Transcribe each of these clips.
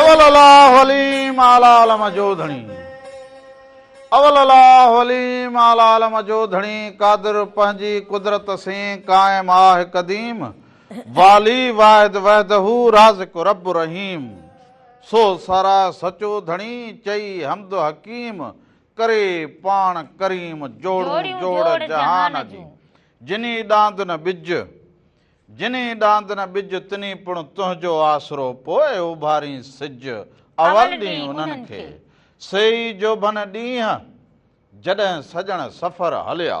اول الله عليم اعليٰ علم جو ڌڻي اول الله عليم اعليٰ علم جو ڌڻي قادر پنهنجي قدرت سين قائم آهه قديم والي واحد وحده رازق رب رحيم سو سارا سچو ڌڻي چئي حمد حڪيم ڪري پاڻ ڪريم جوڙون جوڙ جهان جي جني ڏاند نه ٻج جني ڏاند نه ٻج تني پڻ تنهنجو آسرو پوء اڀارين سج اول ڏينهن انهن کي سي ئي جوڀن ڏينهن جڏهن سڄڻ سفر هليا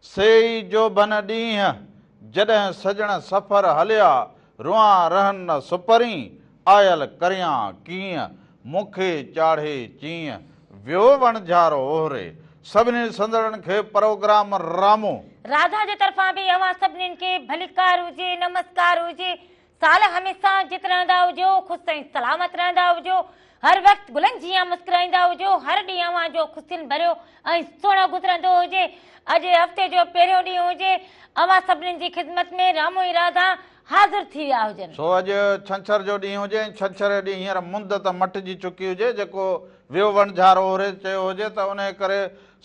سي ئي جوڀن ڏينهن جڏهن سڄڻ سفر هليا روئان رهن نه سپرين آيل ڪريان ڪيئن، مون کي چاڙهي چيئن، ويو وڻجهار اوهري. سڀني سندرن کي پروگرام رامو. راڌا جي طرفان به اوهان سڀنين کي ڀليڪار هجي، نمسڪار هجي. سال هميشه جت رهندا هجو، خوش ۽ سلامت رهندا هجو. هر وقت گلن جيان مسڪرائيندا هجو. هر ڏينهن اوهان جو خوشين ڀريو ۽ سهڻو گذرندو هجي. اڄ هفتي جو پهريون ڏينهن هجي. اوهان سڀنين جي خدمت ۾ رامو ۽ راڌا. حاضر ٿي ويا هجن. سو اڄ ڇنڇر جو ڏينهن هجي ۽ ڇنڇر جو ڏينهن هينئر مند ته مٽجي چڪي هجي، جيڪو ويو وڻجھار اورهيت چيو هجي ته انهيء ڪري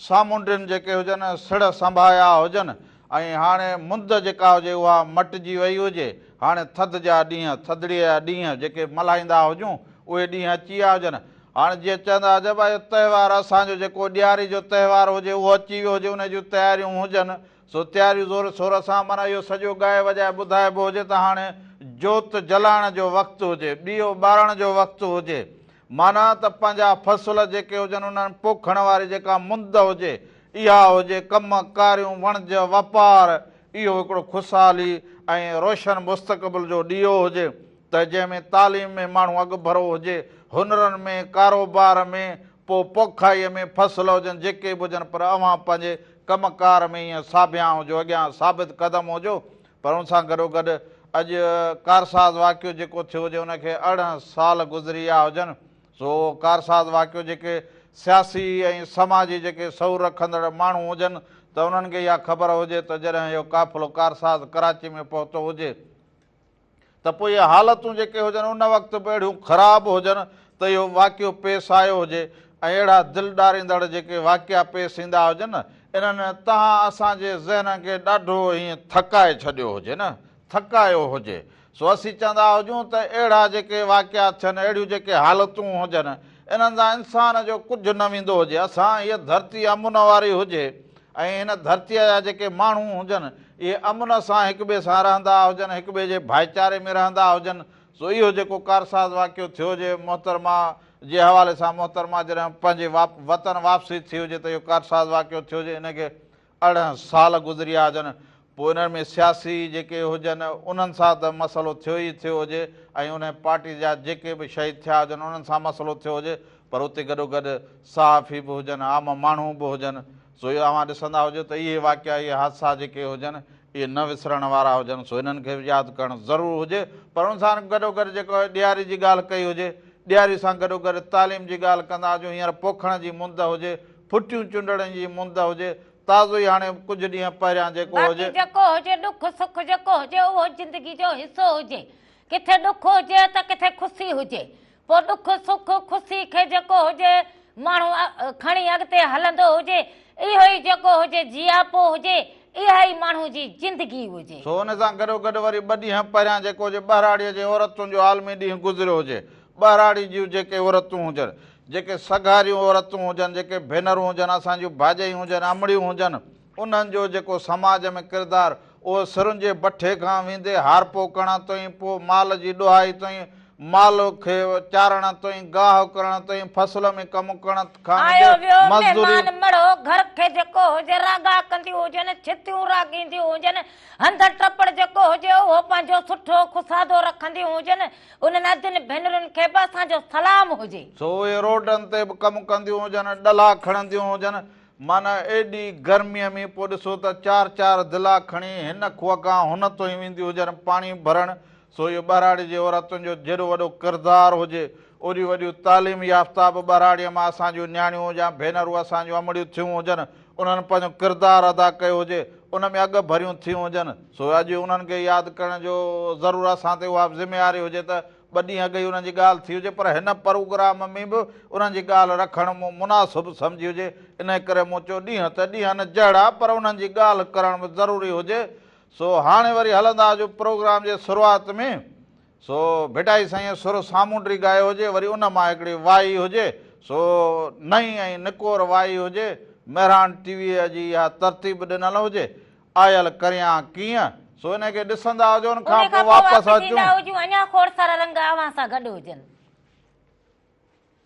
سامونڊين جيڪي هجن سڙهه سنڀايا هجن ۽ هاڻي مند جيڪا هجي اها مٽجي وئي هجي. هاڻي ٿڌ جا ڏينهن، ٿڌڙيء جا ڏينهن جيڪي ملهائيندا هجون، اهي ڏينهن اچي ويا هجن. هاڻي جيئن چوندا هجن، اهو تهوار اسان جو جيڪو ڏياري جو تهوار هجي اهو اچي ويو هجي، انهيء جون تياريون هجن سو تياريون زور شور سان معنيٰ اهو سڄو ڳائي وڄائي ٻڌائبو هجي ته هاڻي جوت جلائڻ جو وقت هجي، ڏيئو ٻارڻ جو وقت هجي، معنيٰ ته پنهنجا فصل جيڪي هجن انهن پوکڻ واري جيڪا مند هجي اها هجي، ڪم ڪاريون، وڻج، واپار، اهو هڪڙو خوشحالي ۽ روشن مستقبل جو ڏيئو هجي ته جنهن ۾ تعليم ۾ ماڻهو اڳڀرو هجي، هنرن ۾، ڪاروبار ۾، پوء پوکائيء ۾ فصل هجن جيڪي به هجن پر اوهان پنهنجي ڪم ڪار ۾ هينئن ساڀيان هجو اڳيان ثابت قدم هجو پر ان سان گڏوگڏ اڄ ڪارساز واقعو جيڪو ٿيو هجي ان کي ارڙهن سال گذري ويا هجن سو اهو ڪارساز واقعو جيڪي سياسي ۽ سماجي جيڪي شعور رکندڙ ماڻهو هجن ته انهن کي اها خبر هجي ته جڏهن اهو قافلو ڪارساز ڪراچي ۾ پهتو هجي ته پوء اهي حالتون جيڪي هجن ان وقت به اهڙيون خراب هجن ته اهو واقعو پيس آيو هجي ۽ اهڙا دل ڏاريندڙ جيڪي واقعا پيس ايندا هجن نه انهن تهان اسان جي ذهنن کي ڏاڍو ائين ٿڪائي ڇڏيو هجي نه ٿڪايو هجي سو اسين چوندا هجون ته اهڙا جيڪي واقعا ٿين اهڙيون جيڪي حالتون هجن انهن سان انسان جو ڪجهه نه ويندو هجي اسان هيء ڌرتي امن واري هجي ۽ هن ڌرتيء جا جيڪي ماڻهو هجن، اهي امن سان هڪ ٻئي سان رهندا هجن، هڪ ٻئي جي ڀائيچاري ۾ رهندا هجن، سو اهو جيڪو ڪارساز واقعو ٿيو جي محترمه جي حوالي سان محترمه جڏهن پنهنجي وطن واپسي ٿي هجي ته اهو ڪارساز واقعو ٿيو جي ان کي ارڙهن سال گذريا هجن، پوء انهن ۾ سياسي جيڪي هجن انهن سان ته مسئلو ٿيو ئي ٿيو هجي ۽ انهي پارٽي جا جيڪي به شهيد ٿيا هجن انهن سان مسئلو ٿيو هجي پر اتي گڏوگڏ صحافي به هجن عام ماڻهو به هجن سو اهي اوهان ڏسندا هجو ته اهي واقعا اهي حادثا جيڪي هجن اهي نه وسرڻ وارا هجن سو انهن کي به ياد ڪرڻ ضرور هجي پر ان سان گڏوگڏ جيڪو ڏياري جي ڳالهه ڪئي هجي ڏياري سان گڏوگڏ تعليم جي ڳالهه ڪندا هجون هينئر پوکڻ جي مند هجي ڦٽيون چنڊڻ جي مند هجي تازو ئي هاڻي ڪجهه ڏينهن پهريان جيڪو هجي. باقي جيڪو هجي ڏک سک جيڪو هجي اهو زندگي جو حصو هجي. ڪٿي ڏک هجي ته ڪٿي خوسي هجي. پوء ڏک سک خوسي کي جيڪو هجي ماڻهو کڻي اڳتي هلندو هجي. اهو ئي جيڪو هجي جياپو هجي. اها ئي ماڻهو جي زندگي هجي. سو ان سان گڏو گڏ وري ٻه ڏينهن پهريان جيڪو هجي ٻهراڙيء جي عورتن جو عالمي ڏينهن گذريو هجي. ٻهراڙي جون جيڪي عورتون هجن، جيڪي سگهاريون عورتون هجن، جيڪي ڀينرون هجن، اسان جون ڀاڄايون هجن، امڙيون هجن، انهن جو جيڪو سماج ۾ ڪردار، اهو سرن جي بٺي کان ويندي هارپوڪڻ تائين، پوء مال جي ڏهائي تائين، مال کي چارڻ تائين، گاهه ڪرڻ تائين، فصل ۾ ڪم ڪرڻ کان ويندي مزدوري. آيو ويو مهمان مڙهو، گهر کي جيڪو هجي راڳا ڪنديون هجن، ڇتيون راڳينديون هجن، هنڌ ٽپڙ جيڪو هجي اهو پنهنجو سٺو خسادو رکنديون هجن، انهن اڌن ڀينرن کي به اسان جو سلام هجي. سو اهي روڊن تي به ڪم ڪنديون هجن، ڏلا کڻنديون هجن، معنيٰ ايڏي گرميء ۾ پوء ڏسو ته چار چار دلا کڻي هن کوهه کان هن توهين وينديون هجن پاڻي ڀرڻ، سو اهو ٻهراڙي جي عورتن جو جيڏو وڏو ڪردار هجي، اوڏيون وڏيون تعليم يافته به ٻهراڙيء مان اسان جون نياڻيون يا ڀينرون اسان جون امڙيون ٿيون هجن، انهن پنهنجو ڪردار ادا ڪيو هجي ان ۾ اڳ ڀريون ٿيون هجن سو اڄ انهن کي ياد ڪرڻ جو ضرور اسان تي اها ذميواري هجي ته ٻه ڏينهن اڳ ئي انهن جي ڳالهه ٿي هجي پر هن پروگرام ۾ به انهن جي ڳالهه رکڻ مون مناسب سمجهي هجي انهي ڪري مون چيو ڏينهن ته ڏينهن جهڙا پر انهن جي ڳالهه ڪرڻ به ضروري هجي سو هاڻي وري هلندا جو پروگرام جي شروعات ۾ سو ڀٽائي سائينء سر سامونڊري ڳايو هجي، وري ان مان هڪڙي وائي هجي، سو نئين ۽ نڪور وائي هجي، مهراڻ ٽي ويء جي اها ترتيب ڏنل هجي، آيل ڪريان ڪيئن، سو انهيء کي ڏسندا هجون ان کان پوء واپس اچون. اڃا کوڙ سارا رنگ اوهان سان گڏ هجن.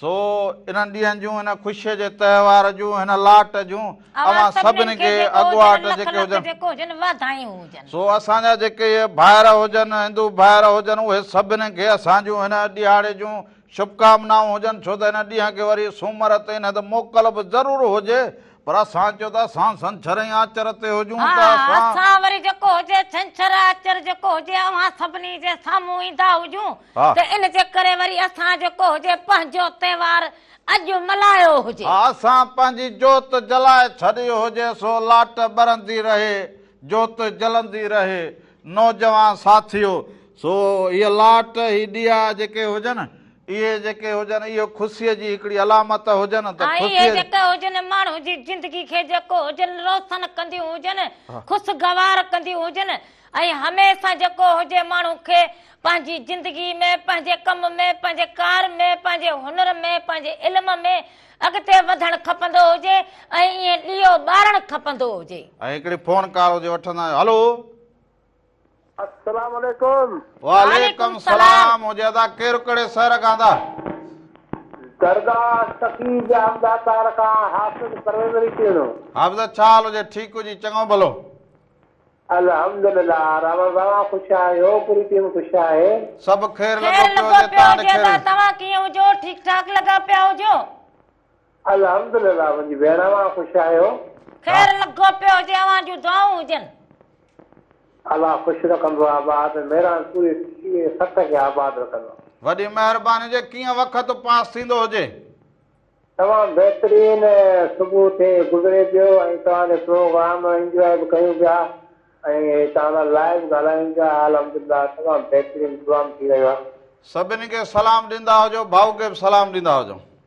سو انهن ڏينهن جون، هن خوشيء جي تهوار جون، هن لاٽ جون اوهان سڀني کي اڳواٽ جيڪي هجن، واڌايون هجن. سو اسان جا جيڪي اهي ڀائر هجن، هندو ڀائر هجن، اهي سڀني کي اسان جون هن ڏيهاڙي جون شڀڪامنائون هجن، ڇو ته هن ڏينهن کي وري سومر تي نه ته موڪل به ضرور هجي، پر اسان چيو ته اسان سنڇر ۽ آچر تي هجون ها ته اسان اسان وري جيڪو هجي ڇنڇر آچر جيڪو هجي اوهان سڀني جي سامهون ايندا هجون ها. ته ان جي ڪري وري اسان جيڪو هجي پنهنجو تهوار اڄ ملهايو هجي. ها اسان پنهنجي جوت جلائي ڇڏي هجي سو لاٽ ٻرندي رهي جوت جلندي رهي نوجوان ساٿيو! سو هيء لاٽ هي ڏيئا جيڪي هجن اهي جيڪي هجن اهو خوسيء جي هڪڙي علامت هجن ته ۽ اهي جيڪي هجن ماڻهو جي زندگي کي جيڪو هجن روسن ڪنديون هجن، خوسگوار ڪنديون هجن ۽ هميشه جيڪو هجي ماڻهو کي پنهنجي زندگي ۾، پنهنجي ڪم ۾، پنهنجي ڪار ۾، پنهنجي هنر ۾، پنهنجي علم ۾ اڳتي وڌڻ کپندو هجي ۽ ايئن ڏيئو ٻارڻ کپندو هجي. ۽ هڪڙي فون ڪال هجي وٺندا آهيون هلو السلام عليڪم. وعليڪم سلام ھجي ادا ڪير ڪھڙي سحر کان ادا. درگاھ سخي جام داتار کان حافظ پرويز علي ٽيڻو. حافظ ڇا حال ھجي ٺيڪ ھجي چڱو ڀلو. الحمدلله راوڻ صاحب خوش آھيو پوري ٽيم خوش آھي. سڀ خير لڳو پيو ھجي تان ڏي خير. توھان ڪيئن ھجو ٺيڪ ٺاڪ لڳا پيا ھجو. الحمد لله منهنجي ڀيڻ اوهان خوش آهيو. خير لڳو پيو هجي اوهان جون دعائون هجن. الله خوش رکندو آباد ميران پوري سٽي ۽ سٽ کي آباد رکندو. وڏي مهرباني جي ڪيئن وقت پاس ٿيندو هجي. تمام بهترين صبح ٿي گذري پيو ۽ توهان جو پروگرام انجواء به ڪيون پيا ۽ توهان سان لائيو ڳالهايون پيا الحمدلله تمام بهترين پروام ٿي رهيو آهي. سڀني کي سلام ڏيندا هجو ڀائو کي به سلام ڏيندا هجو.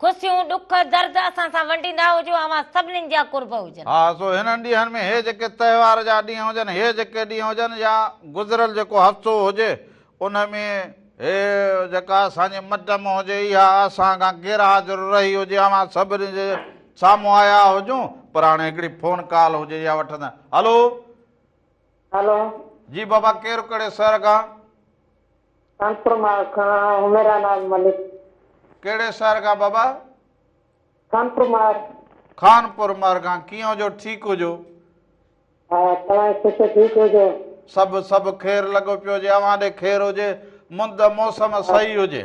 خوشيون، ڏک، درد اسان سان ونڊيندا هجو، اوهان سڀنين جا قرب هجن. ها سو هنن ڏينهن ۾ هي جيڪي تهوار جا ڏينهن هجن، هي جيڪي ڏينهن هجن يا گذريل جيڪو هفتو هجي ان ۾ هي جيڪا اسان جي مٽ م هجي اها اسان کان غير حاضر رهي هجي اوهان سڀني جي سامهون آيا هجون پر هاڻي هڪڙي فون ڪال هجي يا وٺندا هلو هلو جي بابا ڪير ڪهڙي شهر کان. خانپور مان کان حميرا ناز ملڪ. ڪهڙي شهر کان بابا؟ خانپور مار. خانپور مار کان ڪيئن هجو ٺيڪ هجو. ها توهان جي خوش ٺيڪ هجو. سڀ سڀ خير لڳو پيو هجي اوهان ڏي خير هجي مند موسم صحيح هجي.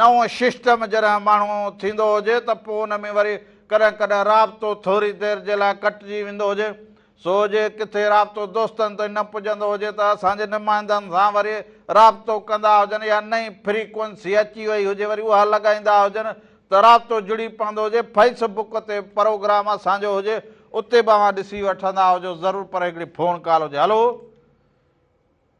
نئون ششٽم جڏهن ماڻهو ٿيندو هجي ته پوء ان ۾ وري ڪڏهن ڪڏهن رابطو ٿوري دير جي لاء ڪٽجي ويندو هجي سو جي ڪٿي رابطو دوستن تائين نه پڄندو هجي ته اسان جي نمائندن سان وري رابطو ڪندا هجن يا نئين فريڪوئنسي اچي وئي هجي وري اها لڳائيندا هجن ته رابطو جڙي پوندو هجي فيس بڪ تي پروگرام اسان جو هجي اتي به اوهان ڏسي وٺندا هجو ضرور پر هڪڙي فون ڪال هجي هلو.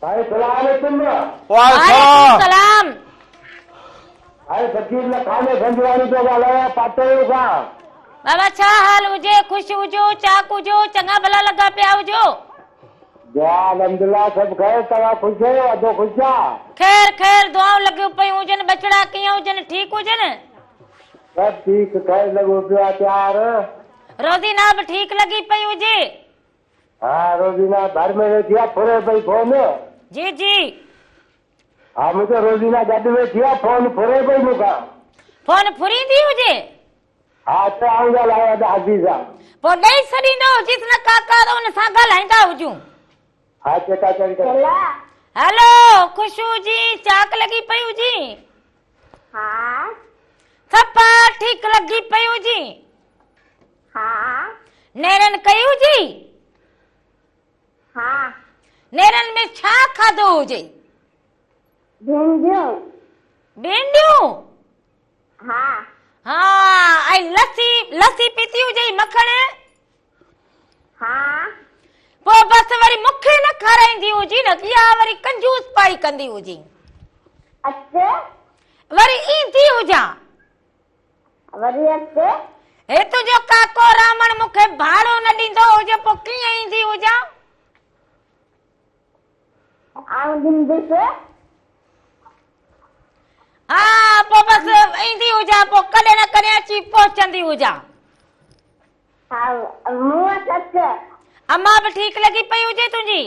سائين سلام عليڪم. وعليڪم سلام. سائين فقير لکاني گنجواڻي پيو ڳالهايان پاٽوڙو کان. بابا ڇا حال هجي خوش هجو چاڪ هجو چڱا ڀلا لڳا پيا هجو. دعا الحمدلله سڀ خير توهان خوش اهيو ادو خوش آ. خير خير دعائون لڳيون پيون هجن ٻچڙا ڪيئن هجن ٺيڪ هجن. سڀ ٺيڪ خير لڳو پيو آ تيار. روزينا به ٺيڪ لڳي پئي هجي. ها روزينا ڀر ۾ ويٺي آ ڦري پئي فون. جي جي. ها منهنجو روزينا گڏ ويٺي آ فون ڦري پئي مون کان. فون ڦريندي هجي. ها اچو آئون ڳالهايان ادا حاجي سان. پوء ڏئي سڏيندو هجيس نه ڪاڪا ته ان سان ڳالهائيندا هجون. ها چيڪا چيڪ ڪريو. هلو خوشو جي چاڪ لڳي پئي هجي. ها. صفا ٺيڪ لڳي پئي هجي. ها. نيرن ڪئي هجي؟ ها. نيرن ۾ ڇا کاڌو هجي؟ ڀينڊيون. ڀينڊيون؟ ها. ها. ۽ لسي، لسي پيتي هجئي مکڻ؟ ها. پوء بس وري مون کي نه کارائيندي هجين، اها وري ڪنجوس پائي ڪندي هجين. اچ. وري ايندي هجان. وري اڳتي. هي تنهنجو ڪاڪو رامڻ مون کي ڀاڙو نه ڏيندو هجي پوء ڪيئن ايندي هجان. آئون ڏينديس. ها پوء بس ايندي هجان پوء ڪڏهن نه ڪڏهن اچي پهچندي هجان. ها مون وٽ اچ. امان به ٺيڪ لڳي پئي هجي تنهنجي.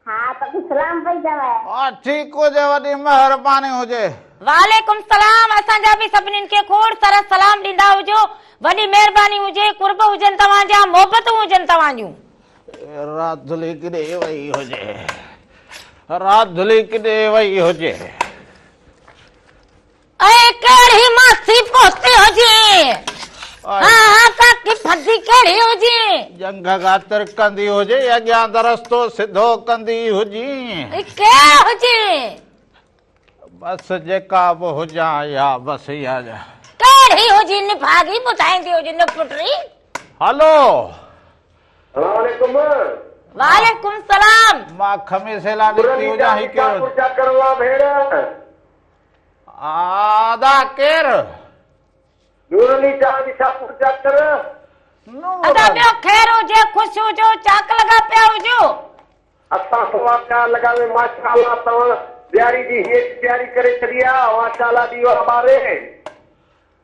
ها پڳي سلام پئي چوي. ها ٺيڪ هجي وڏي مهرباني هجي. وعليڪم سلام اسان جا به سڀنين کي کوڙ سرس سلام ڏيندا هجو وڏي مهرباني هجي قرب هجن توهان جا محبتون هجن توهان جون. راڌلي ڪيڏي وئي هجي راڌلي ڪيڏي وئي هجي. اي ڪهڙي ماسي پوسي هجي ها ها ڪاڪي ڦدي ڪهڙي هجي جنگ غاتر ڪندي هجي اڳيان درستو سڌو ڪندي هجي اي ڪي هجي بس جيڪا به هجان يا بس يا ڪهڙي هجي نڀاڳي ٻڌائيندي هجي نه پٽري هلو السلام عليڪم وعليڪم السلام مان کمي سيلا نڪتي هجان هي ڪيو چاڪر وا ڀيڻ ادا ڪير؟ نور علي شاهه جي شاپور جا ڪر. ادا ٻيو خير هجي خوش هجو چاڪ لڳا پيا هجو. اسان سوا پيا لڳاوي ماشاءالله توهان ڏياري جي هيج ڏياري ڪري ڇڏي آ ماشاءالله ڏيئا ٻاري.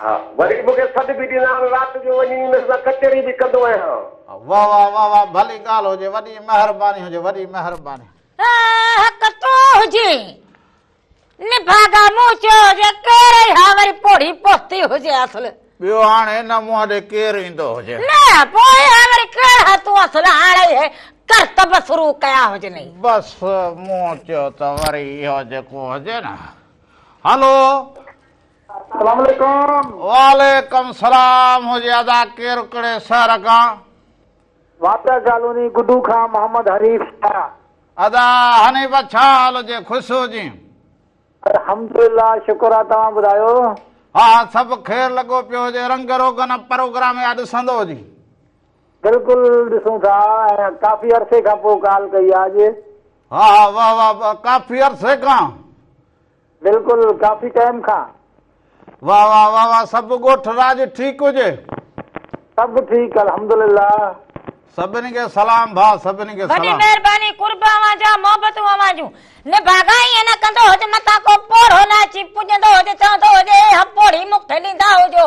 ها وري مون کي سڏ به ڏيندا آهن رات جو وڃي انهن سان ڪچهري به ڪندو آهيان. واه واه واه واه ڀلي ڳالھ هجي وڏي مهرباني هجي وڏي مهرباني. حق تو هجي نڀاڳا مون چيو هجي ڪير اي ها وري پوڙهي پوتي هجي اصل. ٻيو هاڻ هن منهن ڏي ڪير ايندو هجي. نه پوء ها وري ڪير ها تون اصل هاڻ اهي ڪرتب شروع ڪيا هجنئي. بس مون چيو ته وري اهو جيڪو هجي نه هلو سلام عليڪم. وعليڪم سلام هجي ادا ڪير ڪھڙي شهر کان. واپيا ڪالوني گڊو کان محمد حنيف شاھ. ادا حنيف ڇا حال جي خوش هجي. الحمدلله شڪر آ توهان ٻڌايو. ها سڀ خير لڳو پيو هجي رنگ روغن پروگرام يا ڏسندو هجي. بلڪل ڏسون ٿا ۽ ڪافي عرصي کان پو ڪال ڪئي آ اڄ. ها ها واه واه واه ڪافي عرصي کان. بلڪل ڪافي ٽيم کان. واھ واھ واھ واھ سڀ ڳوٺ راڄ ٺيڪ هجي. سڀ ٺيڪ الحمدلله. سڀني کي سلام ڀاء سڀني کي وڏي سلام. مهرباني قرب اوهان جا محبتون اوهان جون نڀاڳا ائين نه ڪندو هج متان ڪو پوڙهو نه اچي پڄندو هج چوندو هج اي هٻ پوڙهي مون کي ڏيندا هجو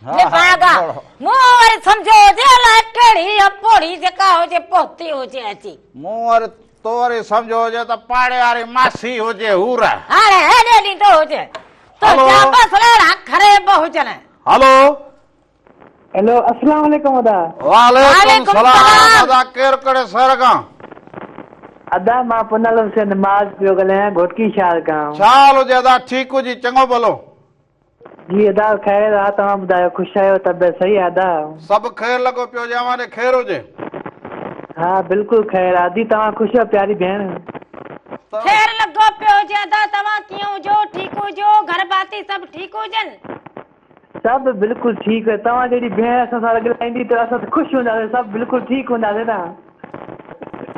لفاگا، مون وري سمجهيو هجي الائي ڪهڙي اپوڙي جيڪا هجي پهتي هجي اچي. مون وري تو وري سمجهيو هجي ته پاڙي واري ماسي هجي حور. هاڻي هيڏي ڏيندو هجي. تنهنجا بس ليڙا خريب هجن. هلو. هلو اسلام عليڪم ادا. وعليڪم سلام ادا ڪير ڪهڙي شهر کان. ادا مان پنل حسين معاذ پيو ڳالهايان گهوٽڪي شهر کان. ڇا حال هجي ادا ٺيڪ هجي چڱو ڀلو. جي ادا خير آ توهان ٻڌايو خوش آهيو طبعيت صحيح آ ادا. سڀ خير لڳو پيو جي اوهان ڏي خير هجي. ها بلڪل خير آ ادي توهان خوش آهيو پياري ڀيڻ. خير لڳو پيو هجي ادا توهان ڪيئن هجو ٺيڪ هجو گهر ڀاتي سڀ ٺيڪ هجن. سڀ بلڪل ٺيڪ توهان جهڙي ڀيڻ اسان سان رڳلائيندي ته اسان ته خوش هونداسين سڀ بلڪل ٺيڪ هونداسين نا.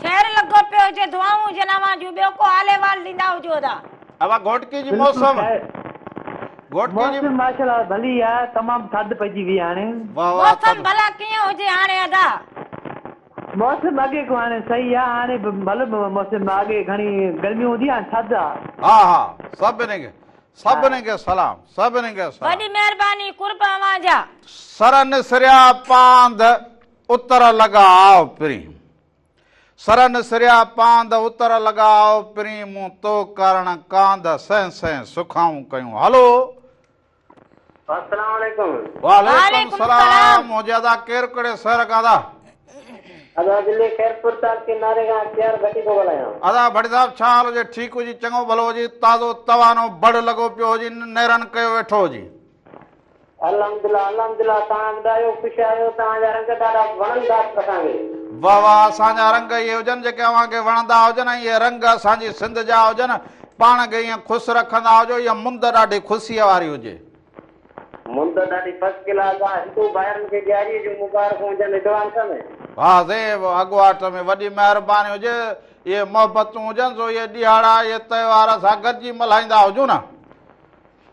خير لڳو پيو هجي دعائون هجن اوهان جون ٻيو ڪو حال احوال ڏيندا هجو ادا. اوهان گهوٽڪي جي موسم گهوٽڪي جي. موسم ماشاءالله ڀلي آ تمام ٿڌ پئجي وئي هاڻي. واهه واهه موسم ڀلا ڪيئن هجي هاڻي ادا. موسم اڳي کان هاڻي صحيح آ هاڻي به ڀلو موسم آ اڳي گهڻي گرمي هوندي هاڻي ٿڌ آ. ها ها سڀني کي سڀني کي سلام سڀني کي سلام. وڏي مهرباني قرب اوهان جا. سرن سريا پانڌ اتر لڳا آء پرين، سرن سريا پاند اتر لڳا آء پرين، مون تو ڪارڻ ڪاند سهين سهين سکائون ڪيون هلو. السلام عليڪم. وعليڪم السلام حجي ادا ڪير ڪهڙي شهر کان ادا. ادا ضلعي خيرپور تعلقي ناري کان اختيار ڀٽي ٿو ڳالهايان. ادا ڀٽي صاحب ڇا حال هجي ٺيڪ هجي چڱو ڀلو هجي تازو توانو بڙ لڳو پيو هجي نيرن ڪيو ويٺو هجي. الحمدلله الحمدلله تهان به ڏايو خوش آهيو تهان جا رنگ ڏاڍا وڻن ٿا اسان کي. واھ واھ اسان جا رنگ اھي ھجن جيڪي اوھان کي وڻندا ھجن ۽ اھي رنگ اسان جي سنڌ جا ھجن پاڻ کي ائين خوس رکندا ھجو اھا مند ڏاڍي خوسيء واري ھجي. مند ڏاڍي فرسٽ ڪلاس آ ھندو ڀائرن کي ڏياري جون مبارڪون ھجن ايڊوانس ۾. واھ زيب اڳواٽ ۾ وڏي مھرباني ھجي اھي محبتون ھجن سو اھي ڏيھاڙا اھي تھوار اسان گڏجي ملھائيندا ھجون ها.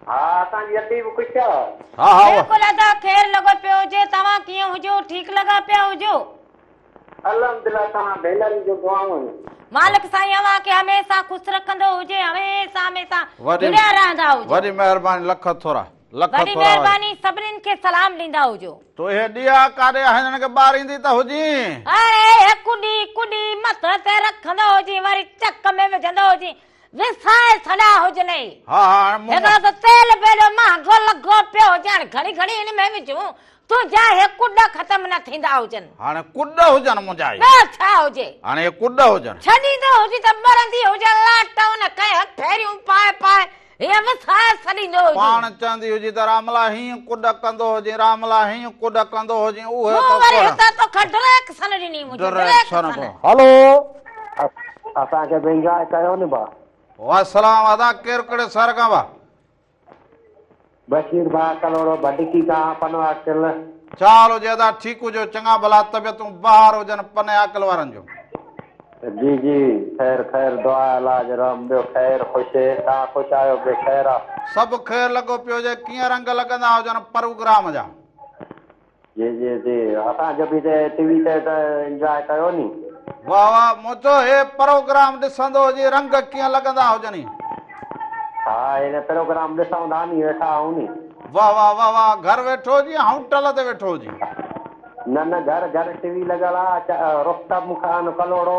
ها اسان جي اپي به خوش آ. ها ها اها. بلڪل ادا خير لڳو پيو هجي توهان ڪيئن هجو ٺيڪ لڳا پيا هجو. الحمدلله توهان ڀينرن جون دعائون. مالڪ سائين اوهان کي هميسا خوش رکندو هجي هميسا هميسا جڙيا رهندا هجو. وڏي مهرباني لک ٿورا لک ٿورا. وڏي مهرباني سڀنين کي سلام ڏيندا هجو. تو اهي ڏيئا ڪاڏي آهن هنن کي ٻاريندي ته هجين. اڙي اهي ڪڏي ڪڏي مٿي تي رکندو هجين وري چڪ ۾ وجهندو هجين وسائي ڇڏيا هجنئي. ها ها هاڻ مون. هڪڙو ته تيل به ايڏو مهانگو لڳو پيو هجي هاڻ گهڙي گهڙي ان ۾ وجهون تو جا هي ڪڏ ختم نه ٿيندا هجن. هاڻ ڪڏ هجن منهنجا هي. ٻيو ڇا هجي. هاڻ هي ڪڏ هجن. ڇڏيندو هجي ته ٻرندي هجي لاٽ ان ڪئين هٿ ڦيريون پائي پائي هيئن وسائي ڇڏيندو هجي. پاڻ چوندي هجي ته راملا هيئن ڪڏ ڪندو هجين راملا هيئن ڪڏ ڪندو هجين اهي ته ڪوڙا. مون وري هتان توکان ڊريڪسن ڏني منهنجي ڊريڪسن. ڊريڪسن. هلو. اسان کي به انجواء ڪيو نه ڀا. وعليڪم سلام ادا ڪير ڪھڙي شھر کان ڀا. بشير ڀاء ڪلھوڙو ڀٽڪي کان پنھون عاقل. ڇا حال ھجي ادا ٺيڪ ھجو چڱا ڀلا طبيعتون بحار ھجن پنھي عاقل وارن جون. جي جي خير خير دعا علاج رحم ٻيو خير خوش تان خوش آھيو ٻيو خير آ. سڀ خير لڳو پيو ھجي ڪيئن رنگ لڳندا ھجن پروگرام جا. جي جي جي اسان جو به تي ٽي وي تي ته انجواء ڪيو ني. واه واه منهنجو هي پروگرام ڏسندو هجي رنگ ڪيئن لڳندا هجني. ها هي پروگرام ڏسون ٿا ني ويٺا آهون ني. واه واه واه واه گهر ويٺو هجي هائون ٽل تي ويٺو هجي. نه نه گهر گهر ٽي وي لڳل آ رخ ته مون کان ڪلهوڙو.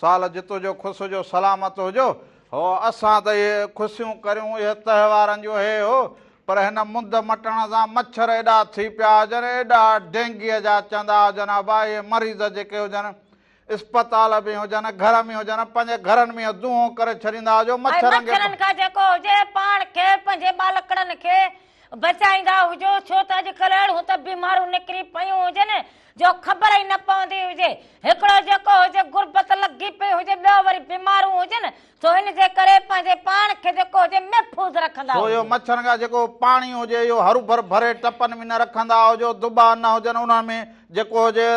سال جي تنهنجو خوس هجو سلامت هجو هو اسان ته اهي خوسيون ڪريون اهي تهوارن جون هي هو پر هن مند مٽڻ سان مڇر ايڏا ٿي پيا هجن ايڏا ڊينگيء جا چندا هجن ابا اهي مريض جيڪي هجن اسپتال ۾ هجن گهر ۾ هجن پنهنجي گهرن ۾ دونهون ڪري ڇڏيندا هجو مڇرن کي مڇرن کان جيڪو هجي پاڻ کي پنهنجي ٻالڪڙن کي بچائيندا هجو ڇو ته اڄڪلهه اهڙيون ته بيماريون نڪري پيون هجن جو خبر ئي نه پوندي هجي. هڪڙو جيڪو هجي غربت لڳي پئي هجي، ٻيو وري بيمارون هجن، سو ان جي ڪري پنهنجي پاڻ کي جيڪو هجي محفوظ رکندا سو اهو هجو. مڇرن کان جيڪو پاڻي هجي اهو هربر ڀري ٽپن ۾ نه رکندا هجو، دٻا نه هجن انهن ۾ جيڪو هجي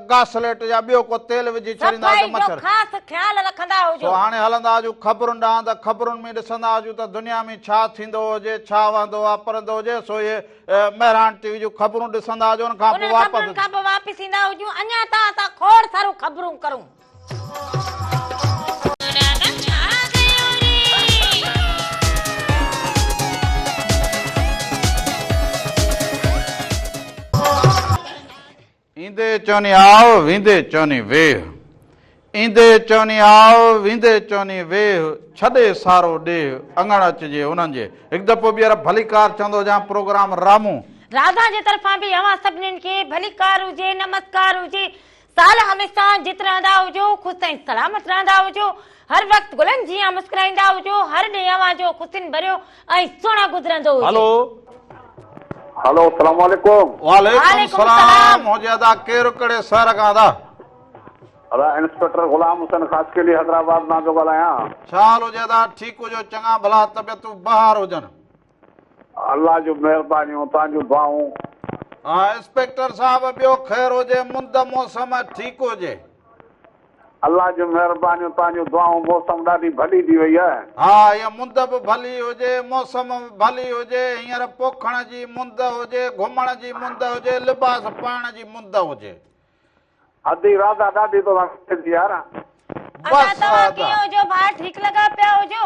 گاسليٽ يا ٻيو ڪو تيل وجهي ڇڏيندا هجو صفائي جو مڇر. خاص خيال رکندا سو هجو. هاڻي هلندا هجون خبرن ڏانهن ته خبرن ۾ ڏسندا هجون ته دنيا ۾ ڇا ٿيندو هجي، ڇا وهندو واپرندو هجي، سو اهي. مهراڻ ٽي وي جون خبرون ڏسندا هجو ان کان پوء واپس انهن خبرن کان پوء واپس ايندا هجون اڃا ته اسان کوڙ سارون خبرون ڪرون. ايندي چوني آء، ويندي چوني ويهه. ايندي چوني آء، ويندي چوني ويهه، ڇڏي سارو ڏيهه، اڱڻ اچجي انهن جي. هڪ دفعو ٻيهر ڀليڪار چوندو هجان پروگرام رامون. راڌا جي طرفان به اوهان سڀنين کي ڀليڪار هجي، نمسڪار هجي. سال هميشه جت رهندا هجو، خوش ۽ سلامت رهندا هجو. هر وقت گلن جيان مسڪرائيندا هجو. هر ڏينهن اوهان جو خوشين ڀريو. ۽ سهڻو گذرندو هجي. هلو. هلو السلام عليڪم. وعليڪم السلام منهنجي ادا ڪير ڪهڙي شهر کان ادا. ادا انسپيڪٽر غلام حسين خاصخيلي حيدرآباد مان ٿو ڳالهايان. ڇا حال هجي ادا ٺيڪ هجو چڱا ڀلا طبيعتون بهار هجن. الله جون مهربانيون توهان جون دعائون. ها انسپيڪٽر صاحب ٻيو خير هجي مند موسم ٺيڪ هجي. الله جون مهربانيون توهان جون دعائون موسم ڏاڍي ڀلي ٿي وئي آهي. ها هينئر مند به ڀلي هجي موسم به ڀلي هجي هينئر پوکڻ جي مند هجي گهمڻ جي مند هجي لباس پائڻ جي مند هجي. ادي راڌا ڏاڍي توسان کپي ٿي يار. ادا توهان ڪيئن هجو ڀاء ٺيڪ لڳا پيا هجو.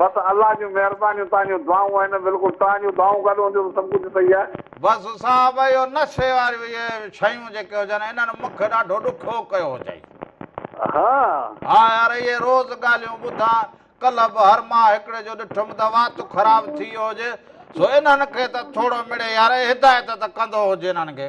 بس الله جون مهربانيون تهان جون دعائون آهن بلڪل تهان جون دعائون گڏ هونديون ته سڀ ڪجهه صحيح آهي. بس صاحب اهو نشي واريون اهي شيون جيڪي هجن انهن مونکي ڏاڍو ڏکيو ڪيو هجئي. ها. ها يار اهي روز ڳالهيون ٻڌان ڪلهه به هر مان هڪڙي جو ڏٺم ته وات خراب ٿي ويو هجي سو انهن کي ته ٿوڙو مڙئي يار هدايت ته ڪندو هج انهن کي.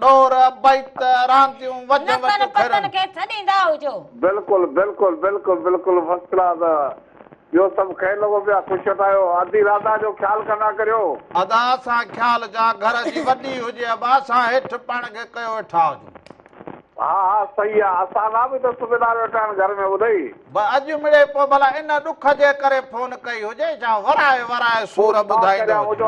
ڏور، بيت، رانديون، وڄ وٽ، نتن ڦرن. پتن کي سڏيندا هجو. بلڪل بلڪل بلڪل بلڪل فرسٽ ڪلاس ٻيو سڀ کين لڳو پيو آ خوش وٽ آيو ادي رادا جو خيال ڪندا ڪريو. ادا اسان خيال جا گهر جي وڏي هجي ابا اسان هيٺ پاڻ کي ڪيو ويٺا هجون. ها ها صحيح آ اسان لا به ته سبيدار ويٺا آهن گهر ۾ ٻڌئي. به اڄ مڙئي پوء ڀلا ان ڏک جي ڪري فون ڪئي هجي جا ورائي ورائي سور ٻڌائيندو هجي.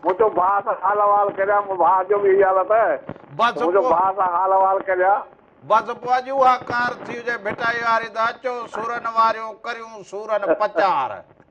مون چيو ڀاء سان حال احوال ڪريان مون ڀاء جو به اهي حال اٿئي ته مون چيو ڀاء سان حال احوال ڪريان. بس پوء اڄ اها ڪار ٿي هجي ڀٽائي واري ته اچو سورن واريون ڪريون سورن پچار.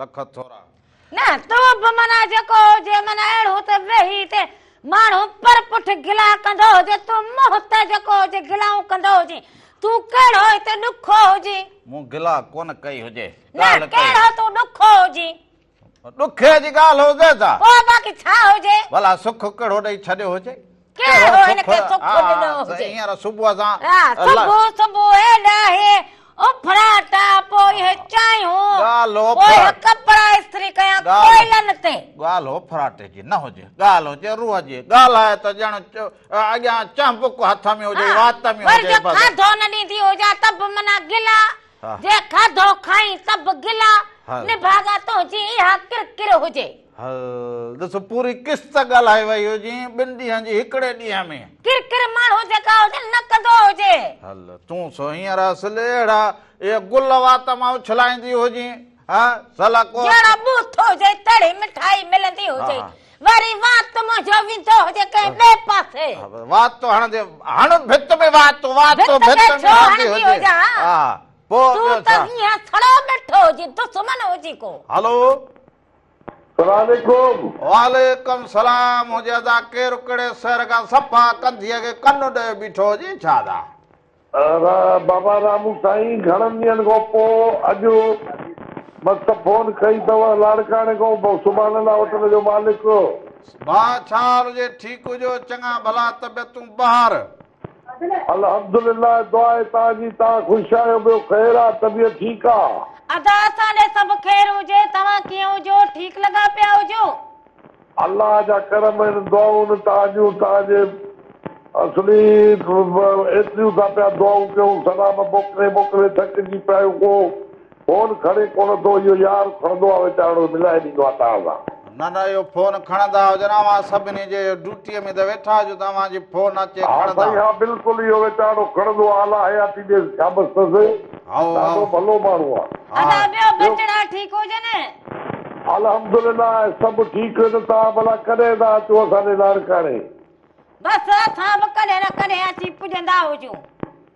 لکت ٿورا. نه تو به معنيٰ جيڪو هجي معنيٰ اهڙو ته ويهي تي ماڻهو پر پٺ گلا ڪندو هجي تو منهن ته جيڪو هجي گلائون ڪندو هجين تون ڪهڙو هتي ڏکو هجين. مون گلا ڪونه ڪئي هجي. نه ڪهڙو تون ڏکو هجين. ڏکي جي ڳالهه هجي ته. پوء باقي ڇا هجي. ڀلا سک ڪهڙو ڏئي ڇڏيو هجي. ڪنهن هو هن کي سک ڏنو هجي. هينئر صبح سان. ها، صبح صبح اهي ڏاهي اڦراٽا، پوء اهي چانهيون، پوء اهي ڪپڙا استري ڪيا ڪوئلن تي. ڳالهه اڦراٽي جي نه هجي، ڳالهه هجي روح جي. ڳالهائي ته ڄڻ اڳيان چهنبڪ هٿ ۾ هجي، وات ۾ هجي. ها، ور جو کاڌو نه ڏيندي هجان ته به منا گلا، جي کاڌو کائين ته به گلا، نڀاڳا تنهنجي اها ڪرڪر هجي. هل ڏس پوري قسط ڳالهائي وئي هجين ٻن ڏينهن جي هڪڙي ڏينهن ۾. ڪر ڪر ماڻهو جيڪا هجن نه ڪندو هجي. هل تون سو هينئر اصل اهڙا اهي گل وات مان اڇلائيندي هجين ها سلا ڪوت. جهڙا ٻوٿ هجي تهڙي مٺائي ملندي هجي وري وات منهنجو ويندو هجي ڪنهن ٻئي پاسي. وات ٿو هڻجي هڻ ڀت ۾ وات وات ٿو ڀت ۾ ڇو هڻندي هجان ها پوء ٻيو ڇا. تون ته هينئر سڙو ٻيٺو هجين دشمن هجين ڪو. هلو. سلام عليڪم. وعليڪم سلام هجي ادا ڪير ڪهڙي سهر کان صفا ڪنڌيء کي ڪن ڏئي بيٺو هجي ڇا ادا. بابا رامو سائين گهڻن ڏينهن کان پو اڄ مس فون ڪئي تئ لاڙڪاڻي کان بئ سبحان الله هوٽل جو مالڪ. بئ ڇا حال هجي ٺيڪ هجو چڱا ڀلا طبيعتون بهار. الحمدلله دعا آهي توهان جي توهان خوش آهيو ٻيو خير آ طبيعت ٺيڪ آ. ادا اسان ڏي سڀ خير هجي توهان ڪيئن هجو ٺيڪ لڳا پيا هجو. الله جا ڪرم اهن دعائون توهان جون توهان جي اصلي ايتريون ٿا پيا دعائون ڪيون سلام موڪلي موڪلي ٿڪجي پيا آهيون ڪو فون کڻي ڪونه ٿو اهو يار. کڻندو آ ويچارڙو ته ملائي ڏيندو آ تان سان. نه نه اهو فون کڻندا هجن اوهان سڀني جي اهو ڊوٽيء ۾ ته ويٺا جو توهان جي فون اچي کڻندا. ها سائين ها بلڪل اهو ويچارڙو کڻندو آ الا حياتي ڏيس ڇابس ٿس هائو هائو. ڏاڍو ڀلو ماڻهو آ. ادا ها. ٻيو ٻيو. ٻچڙا ٺيڪ هجن. الحمدلله سڀ ٺيڪ هن توهان ڀلا ڪڏهن ٿا اچو اسان ڏي لاڙڪاڻي. بس اسان به ڪڏهن نه ڪڏهن اچي پڄندا هجون.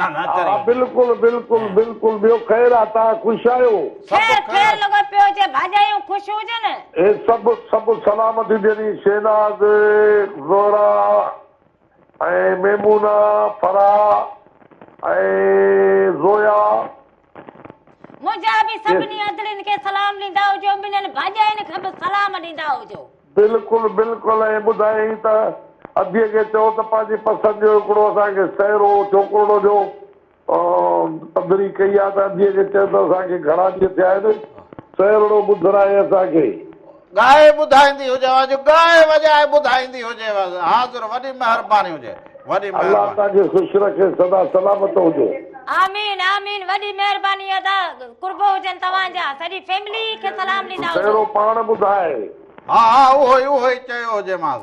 ها بلڪل بلڪل بلڪل ٻيو خير آ تان خوش آهيو. خير خير لڳو پيو هجي ڀاڄايون خوش هجن. هي سڀ سڀ سلامتي جني شهناز زهرا ۽ ميمونه فرح ۽ زويا. منهنجا به سڀني ادڙين کي سلام ڏيندا هجو، منهن ڀاڄائين کي به سلام ڏيندا هجو. بلڪل بلڪل ۽ ٻڌايائين ته اديء کي چئو ته پنهنجي پسند جو هڪڙو اسان کي سهرو ڇوڪرڙو جو پڌري ڪئي آ ته اديء کي چئو ته اسان کي گهڻا ڏينهن ٿيا آهن سهرڙو ٻڌرائي اسان کي. ڳائي ٻڌائيندي هجيو اڄ ڳائي وڄائي ٻڌائيندي هجيو اڄ حاضر وڏي مهرباني هجي وڏي مهرباني. الله توهان کي خوش رکي سدا سلامت هجو. آمين آمين وڏي مهرباني ادا قربو هجن توهان جا سڄي فيملي کي سلام ڏيندا هجو. پهريون پاڻ ٻڌائي. ها ها اهو ئي اهو ئي چيو هجيمانس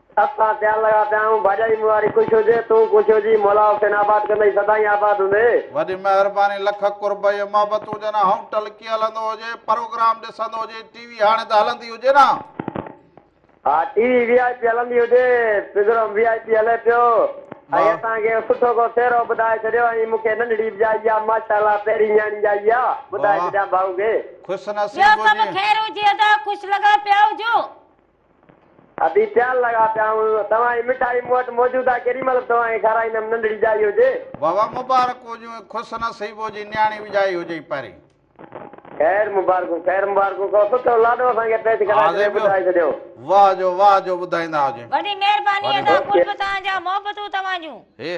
سڀ ساڻ پيار لڳا پيا آهيون باجائي مون واري خوش هجي تون خوش هجي مولا حسين آباد ڪندئي سدائين آباد هوندي. وڏي مهرباني لک قرب ۽ محبت هجن هائون ٽلڪي هلندو هجي پروگرام ڏسندو هجي ٽي وي هاڻي ته هلندي هجي نه. ها T V V I P هلندي هجي پگرام وي آء پي هلي پيو ۽ اسان کي سٺو ڪو سهرو ٻڌائي ڇڏيو ۽ مون کي ننڍڙي به ڄائي آ ماشا الله پهرين نياڻي ڄائي آ ٻڌائي ڇڏيان ڀائو کي. ٻيو سڀ خير هجي ادا خوش لڳا پيا هجو. ادي پيال لڳا پيا آهيون توهان جي مٺائي مون وٽ موجود آهي ڪيڏي مهل به توهان کي کارائيندم ننڍڙي ڄائي هجي. بابا مبارڪ هجون خوش نصيبو جي نياڻي به ڄائي هجئي پرين. خير مبارڪون خير مبارڪون ڪو سٺو لاڏو اسان کي پيش ڪرائي ڇڏيو آزي ٻڌائي ڇڏيو. واه جو واه جو ٻڌائيندا هجي. وڏي مهرباني ادا قرب توهان جا محبتون توهان جون. هي.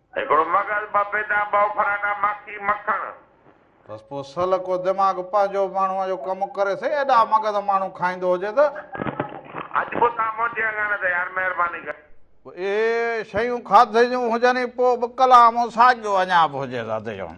هڪڙو مغز، ٻه بيدان، ٻه افرانا، ماکي، مکڻ. بس پوء سل ڪو دماغ پنهنجو ماڻهوء جو ڪم ڪري سهي، ايڏا مغز ماڻهو کائيندو هجي ته. اڄ به اتان موٽي آ ڪانه ته يار مهرباني ڪر. اهي شيون کاڌي جون هجن ئي پوء به ڪلام ساڳيو اڃا به هجي ته اتي چون.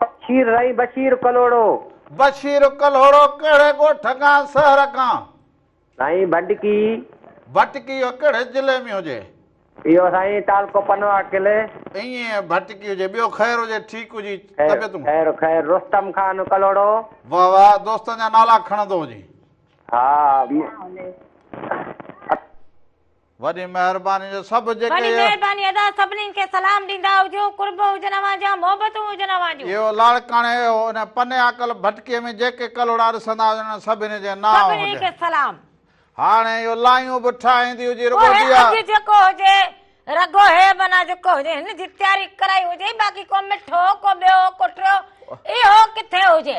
بشير رائي بشير ڪلهوڙو. بشير ڪلهوڙو ڪهڙي ڳوٺ کان شهر کان؟ سائين ڀٽڪي. ڀٽڪي اهو ڪهڙي ضلعي ۾ هجي؟ اهو سائين تعلقو پنواڪل. ائين ڀٽڪي هجي. ٻيو خير هجي ٺيڪ هجي طبيعتون. خير خير رستم خان ڪلهوڙو. واھ واھ دوستن جا نالا کڻندو هجين. ها. وڏي مهرباني جو سڀ جيڪي وڏي مهرباني ادا سڀنين کي سلام ڏيندا هجو قرب هجن اوهان جا محبتون هجن اوهان جون اهو لاڙڪاڻي اهو ان پني عاقل ڀٽڪي ۾ جيڪي ڪلهوڙا ڏسندا هجن انهن سڀني جي نانء هجن سڀني کي سلام هاڻي اهو لايون به ٺاهيندي هجي رڳو ديا اهي اڄ جيڪو هجي رڳو هي بنا جيڪو هجي هن جي تياري ڪرائي هجي باقي ڪو مٺو ڪو ٻيو ڪو ٽيو اهو ڪٿي هجي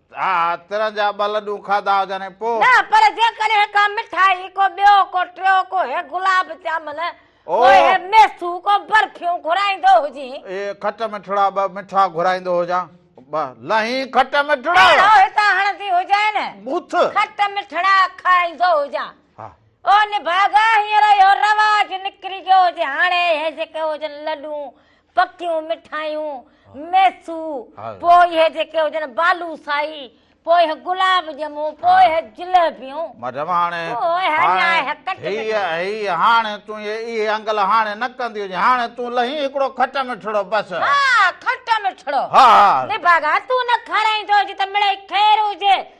ها، ترن جا ٻه لڏو کاڌا هجن ۽ پوء؟ نه، پر جيڪڏهن ڪا مٺائي، ڪو ٻيو، ڪو ٽيو، ڪو هي گلاب جامن، ڪو هي ميسو، ڪو برفيون گهرائيندو هجين. اهي کٽ مٺڙا ٻه مٺا گهرائيندو هجان. ٻه لهين کٽ مٺڙا. ۽ هو هتان هڻندي هجين. مٿ. کٽ مٺڙا کائيندو هجان. ها. او نڀاڳا، هينئر اهو رواج نڪري ويو هجي. هاڻي اهي جيڪي هجن لڏون، پڪيون مٺايون، ميسو، پوء اهي جيڪي هجن بالوسائي، پوء اهي گلاب ڄمون، پوء اهي جليبيون. مدم هاڻي، هاڻي، هيء، هاڻي تون اهي، اهي انگل هاڻي نه ڪندي هجين. هاڻي تون لهين هڪڙو کٽ مٺڙو بس. ها، کٽ مٺڙو. ها. نڀاڳا، تون نه کارائيندو هجين ته مڙئي خير هجي.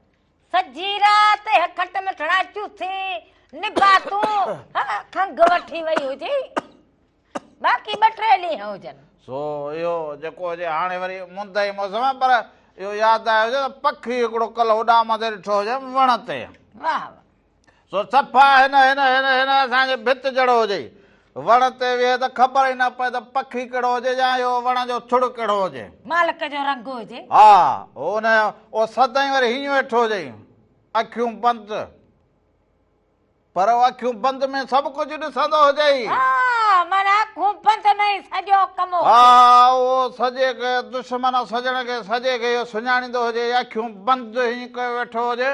سڄي رات هي کٽ ۾ ٺڙا چوٿي نباتون کنگ وٺي وئي هجي باقي ٻه ٽي ڏينهن هجن سو اهو جيڪو هجي هاڻي وري مند جي موسم آهي پر اهو ياد آيو هجي ته پکي هڪڙو ڪل هوڏانهن مٿي ڏٺو هجم وڻ تي واهه سو صفا هن هن هن هن اسان جي ڀت جهڙو هجي وڻ تي ويهي ته خبر ئي نه پئي ته پکي ڪهڙو هجي يا اهو وڻ جو ٿڙ ڪهڙو هجي مالڪ جو رنگ هجي ها ان او سدائين وري هيئن ويٺو هجي اکيون بند پر او اکيون بند ۾ سڀ ڪجهه ڏسندو هجي ها من اکيون بند ۾ سڄو ڪم ها او سڄي کي دشمن سڄڻ کي سڄي کي اهو سڃاڻيندو هجي اکيون بند هيئن ڪيو ويٺو هجي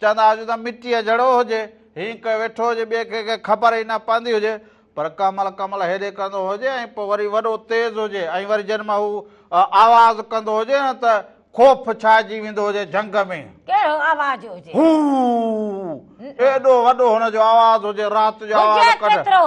چوندا هجون ته مٽيء جھڙو هجي، هينئن ڪيو ويٺو هجي، ٻئي ڪنهن کي خبر ئي نه پوندي هجي، پر ڪمل ڪمل هيڏي ڪندو هجي ۽ پوء وري وڏو تيز هجي ۽ وري جڏهن مان هو آواز ڪندو هجي نه ته خوف ڇائجي ويندو هجي جهنگ ۾. ڪهڙو آواز هجي؟ هو! ايڏو وڏو هن جو آواز هجي، رات جو آواز ڪڍ. هجي ڪيترو؟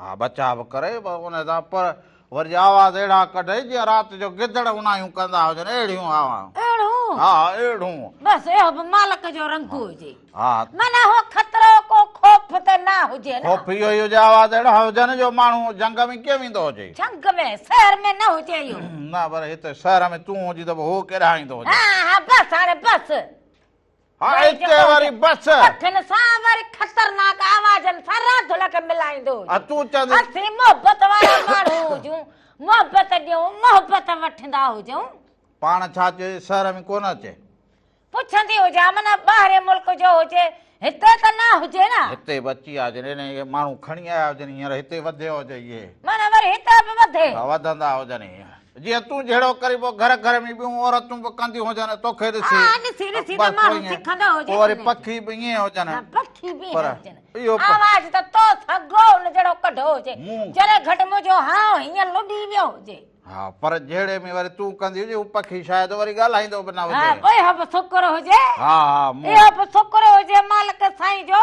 ها بچا به ڪري ان سان پر وري آواز اهڙا ڪڍئي جيئن رات جو گدڙ اونايون ڪندا هجن اهڙيون آواز اهڙون ها اهڙون بس اهو به مالڪ جو رنگ هجي ها من اهو خطرو ڪو خوف ته نه هجي نه خوف اهو هجي آواز اهڙا هجن جو ماڻهو جنگ ۾ ڪيئن ويندو هجي جنگ ۾ شهر ۾ نه هجي اهو نه پر هتي شهر ۾ تون هجي ته هو ڪيڏانهن ايندو هجي ها ها بس هاڻي بس هائي ڪي واري بس اٺن سان ور خطرناڪ آوازن سان راڌل کي ملائيندو هجي ها تون چاندي اسي محبت وارا ماڻهو هجون محبت ڏيون محبت وٺندا هجون پاڻ ڇا چئي شهر ۾ ڪونه اچي پڇندي هجا من ٻاهري ملڪ جو هجي هتي ته نه هجي نه هتي به اچي آ جن هن اهي ماڻهو کڻي آيا هجن هينئر هتي وڌيو هجي اهي من وري هتي به وڌي ها وڌندا هجن جيئن تون جهڙو ڪرين پوء گهر گهر ۾ ٻيون عورتون به ڪنديون هجن ۽ توکي ڏسي پوء وري پکي به ائين هجن پر اهو آواز ته تو سگهو ان جهڙو ڪڍو هجي جڏهن گهٽ منهنجو هانء هيئن لڏي ويو هجي ها پر جهڙي ۾ وري تون ڪندي هجي هو پکي شايد وري ڳالهائيندو به نه هجي اهو به شڪر هجي ها ها اهو به شڪر هجي مالڪ سائين جو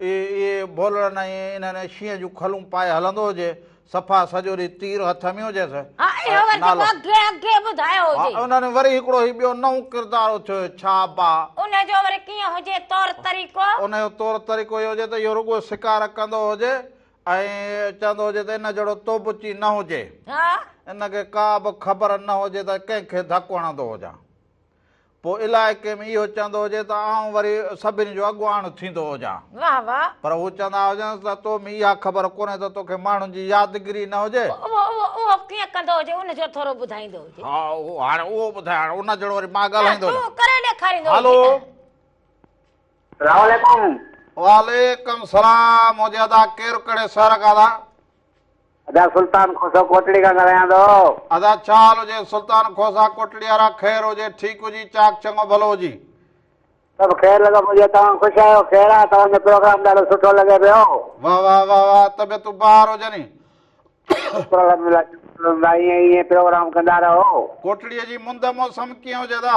اي اي ڀولڙن ۽ انهن شينهن جون کلون پائي هلندو هجي، صفا سڄو ڏينهن تير هٿ ۾ هجيس. ها اهو وري جيڪو اڳي اڳي ٻڌايو هجي. ها انهن وري هڪڙو هي ٻيو نئون ڪردار اٿيو هي ڇا با. ان جو وري ڪيئن هجي طور طريقو؟ ان جو طور طريقو اهو هجي ته اهو رڳو شڪار ڪندو هجي ۽ چوندو هجي ته ان جهڙو توبچي نه هجي. ها. ان کي ڪا به خبر نه هجي ته ڪنهن کي ڌڪ هڻندو هجان. پوء علائقي ۾ اهو چوندو هجي ته آئون وري سڀني جو اڳواڻ ٿيندو هجان. واه واه. پر هو چوندا هجنس ته تو ۾ اها خبر ڪونهي ته توکي ماڻهن جي يادگيري نه هجي. اهو اهو اهو ڪيئن ڪندو هجي ان جو ٿورو ٻڌائيندو هجي. ها هاڻي اهو ٻڌاء هاڻي ان جهڙو وري مان ڳالهائيندو نه. تون ڪري ڏيکاريندو هجين ته. هلو. سلام عليڪم. وعليڪم سلام منهنجي ادا ڪير ڪهڙي شهر کان ادا. ادا سلطان کوسو ڪوٽڙي کان ڳالهايان ٿو. ادا ڇا حال هجي سلطان کوسا ڪوٽڙي وارا خير هجي ٺيڪ هجي چاڪ چڱو ڀلو هجي. سڀ خير لڳو پڄي توهان خوش آهيو خير آهي توهان جو پروگرام ڏاڍو سٺو لڳي پيو. واه واه واه واه طبيعتون بهار هجني. شڪر الحمدلله شڪر الحمدلله ائين ائين پروگرام ڪندا رهو. ڪوٽڙي جي مند موسم ڪيئن هجي ادا.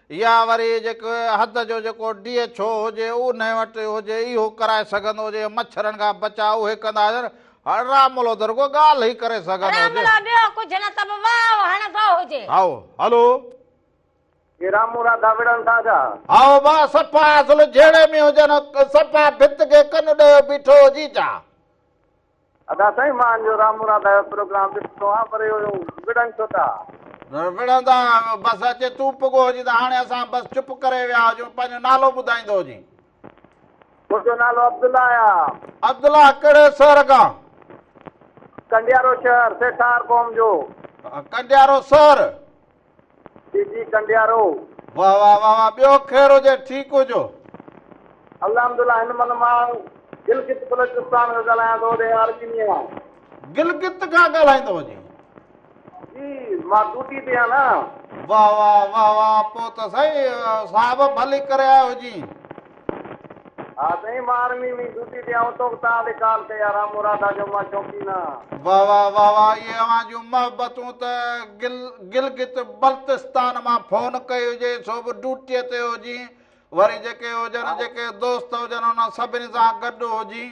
يا وري جيڪو حد جو جيڪو ڊي ايڇ او هجي اونهي وٽ هجي اهو ڪرائي سگهندو هجي مڇرن کان بچاء اهي ڪندا هجن هڙ راملو ته رڳو ڳالهه ئي ڪري سگهندو هجي. راملو ٻيو ڪجهه نه ته به واء هڻندو هجي. هائو هلو. جي رامو راڌا وڙهن ٿا ڇا؟ هائو ڀاء صفا اصل جهيڙي ۾ هجن صفا ڀت کي ڪن ڏيو بيٺو هجي ڇا؟ ادا سائين مان جو رام مراد آيو پروگرام ڏسندو آهيان پر اهو وڙهن ڇو ٿا. وڙهندا آهيو بس اچي تون پڳو هجين ته هاڻي اسان بس چپ ڪري ويا هجون پنهنجو نالو ٻڌائيندو هجين. منهنجو نالو عبدالله آهي. عبدالله ڪهڙي سهر کان. ڪنڊيارو شهر سيٺار قوم جو. ڪنڊيارو سهر. جي جي ڪنڊيارو. واه واه واه واه ٻيو خير هجي ٺيڪ هجو. الحمدالله هن من مان گلگت بلوچستان کان ڳالهايان ٿو هوڏي آرڪينيء کان. گلگت کان ڳالهائيندو وڃي. جي مان ڊوٽي تي آهيان نه. واه واه واه واه پوء ته سائين صاحب ڀلي ڪري آيو هجين. ها سائين مان آرمي مين ڊيوٽي تي آئون توک تان به ڪال ڪيا رام مرادا جو مان شوقينا. واه واه واه واه اهي اوهان جون محبتون ته گل گلگت بلتستان مان فون ڪئي هجي سو به ڊوٽي تي هجين وري جيڪي هجن جيڪي دوست هجن انهن سڀني سان گڏ هجين.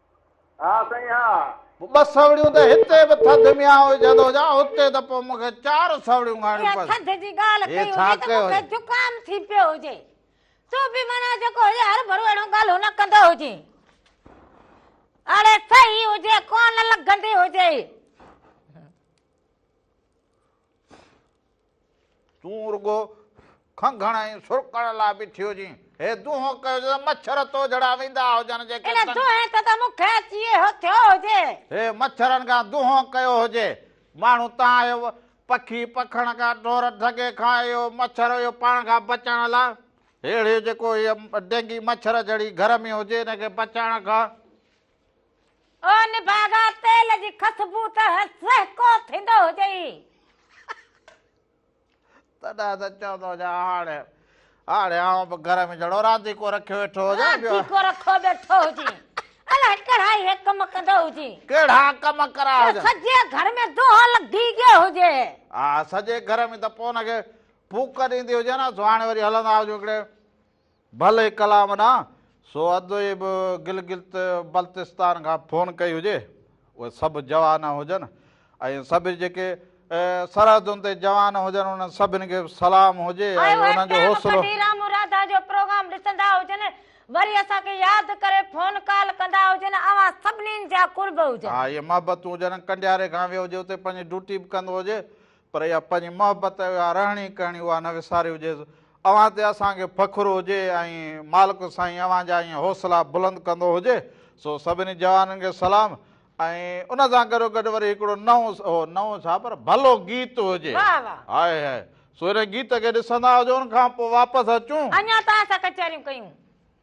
ها سائين ها. ٻه سوڙيون ته هتي به ٿڌ ميان هجندو هجان هتي ته پوء مون کي چار سوڙيون کائڻيون پونديون. اها ٿڌ جي ڳالهه ڪئي هجي ته مون کي زڪام ٿي پيو هجي سو به معنيٰ جيڪو هجي هر ڀرو اهڙيون ڳالهيون نه ڪندو هجي. اڙي صحيح هجي ڪونه لڳندي هجي. تون رڳو کنگهڻ ۽ سرڪڻ لاء بيٺي هجين. هي دونهون ڪيو جو مڇر تو جھڙا ويندا هجن جيڪي ان دونهين تي ته مون کي اچي اهو ٿيو هجي. هي مڇرن کان دونهون ڪيو هجي. ماڻهو تان اهو پکي پکڻ کان ڍور ڍڳي کان اهو مڇر اهو پاڻ کان بچائڻ لاء هيڙهيو جيڪو هيء ڊينگي مڇر جھڙي گھر ۾ هجي ان کي بچائڻ کان او نڀاڳا تيل جي خسبو ته سهڪو ٿيندو هجئي. تڏهن ته چوندو هجان هاڻي هاڻي آئون به گهر ۾ جهڙو رانديڪو رکيو ويٺو هجان. رانديڪو رکو ويٺو هجي. الاهي ڪهڙا هي ڪم ڪندو هجي. ڪهڙا ڪم ڪرا هجي. سڄي گهر ۾ دونهون لڳي گيو هجي. ها سڄي گهر ۾ ته پوء ان کي ڦوڪ ڏيندي هجي نه سهاڻي وري هلندا هجو هڪڙي. ڀلي ڪلام نه سو ادوي به گلگت بلتستان کان فون ڪئي هجي اهي سڀ جوان هجن ۽ سڀ جيڪي سرحدن تي جوان هجن انهن سڀن کي به سلام هجي ۽ انهن جو حوصلو مرادا جو پروگرام ڏسندا هجن وري اسان کي ياد ڪري فون ڪال ڪندا هجن اوهان سڀني جا قرب هجن. ها اهي محبتون هجن ڪنڊياري کان ويو هجي اتي پنهنجي ڊوٽي به ڪندو هجي پر اها پنهنجي محبت اها رهڻي ڪهڻي اها نه وساري هجيس اوهان تي اسان کي فخر هجي ۽ مالڪ سائين اوهان جا ائين حوصلا بلند ڪندو هجي سو سڀني جوانن کي سلام ۽ ان سان گڏو گڏ وري هڪڙو نئون اهو نئون ڇا پر ڀلو گيت هجي هاء هاء سو ان گيت کي ڏسندا هجون کان پوء واپس اچون اڃا ته اسان ڪچهريون ڪيون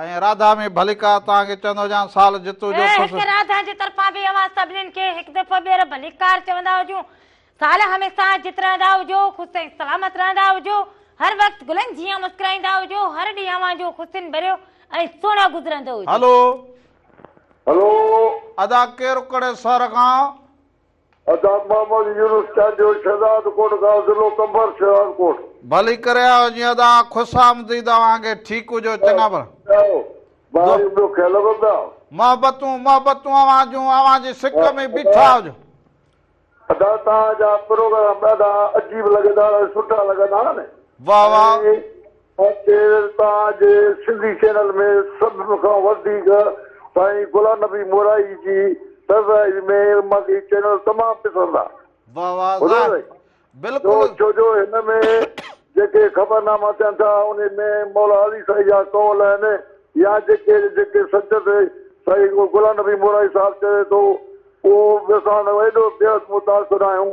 ۽ راڌا ۾ ڀليڪا توهان کي چوندو هجان سال جتو جو کس. هتي راڌا جي طرفان به اوهان سڀنين کي هڪ دفعو ٻيهر ڀليڪار چوندا هجون سال هميسا جت رهندا هجو خوس ۽ سلامت رهندا هجو هر وقت گلن جيان مسڪرائيندا هجو هر ڏينهن اوهان جو خوشين ڀريو ۽ سهڻو گذرندو هجي. هلو. هلو. ادا ڪير ڪهڙي سر کان ادا محمد يونس چانڊيو شھداد ڪوٽ کان ضلعو قمبر شھداد ڪوٽ. ڀلي ڪري آيو جي ادا خوش آمديد اوهان کي ٺيڪ هجو چڱابر. بهاريون ٻيو کي لڳو پيا. محبتون محبتون اوهان جون اوهان جي سڪ ۾ بيٺا هجو. ادا توهان جا پروگرام ڏاڍا عجيب لڳيدار ۽ سٺا لڳندا آهن. واھ واھ. ڪير توهان جي سنڌي چينل ۾ سڀ کان وڌيڪ سائين غلام نبي مورائي جي سرفراز ۾ مان کي هي چينل تمام پسند آ واه واه واه ٻڌو سائين جو بلڪل ڇو جو هن ۾ جيڪي خبرناما ٿين ٿا انهي ۾ مولا علي سائين جا قول آهن يا جيڪي جيڪي سچت سائين غلام نبي مورائي صاحب چوي ٿو اهو به اسان ايڏو بيحد متاثر آهيون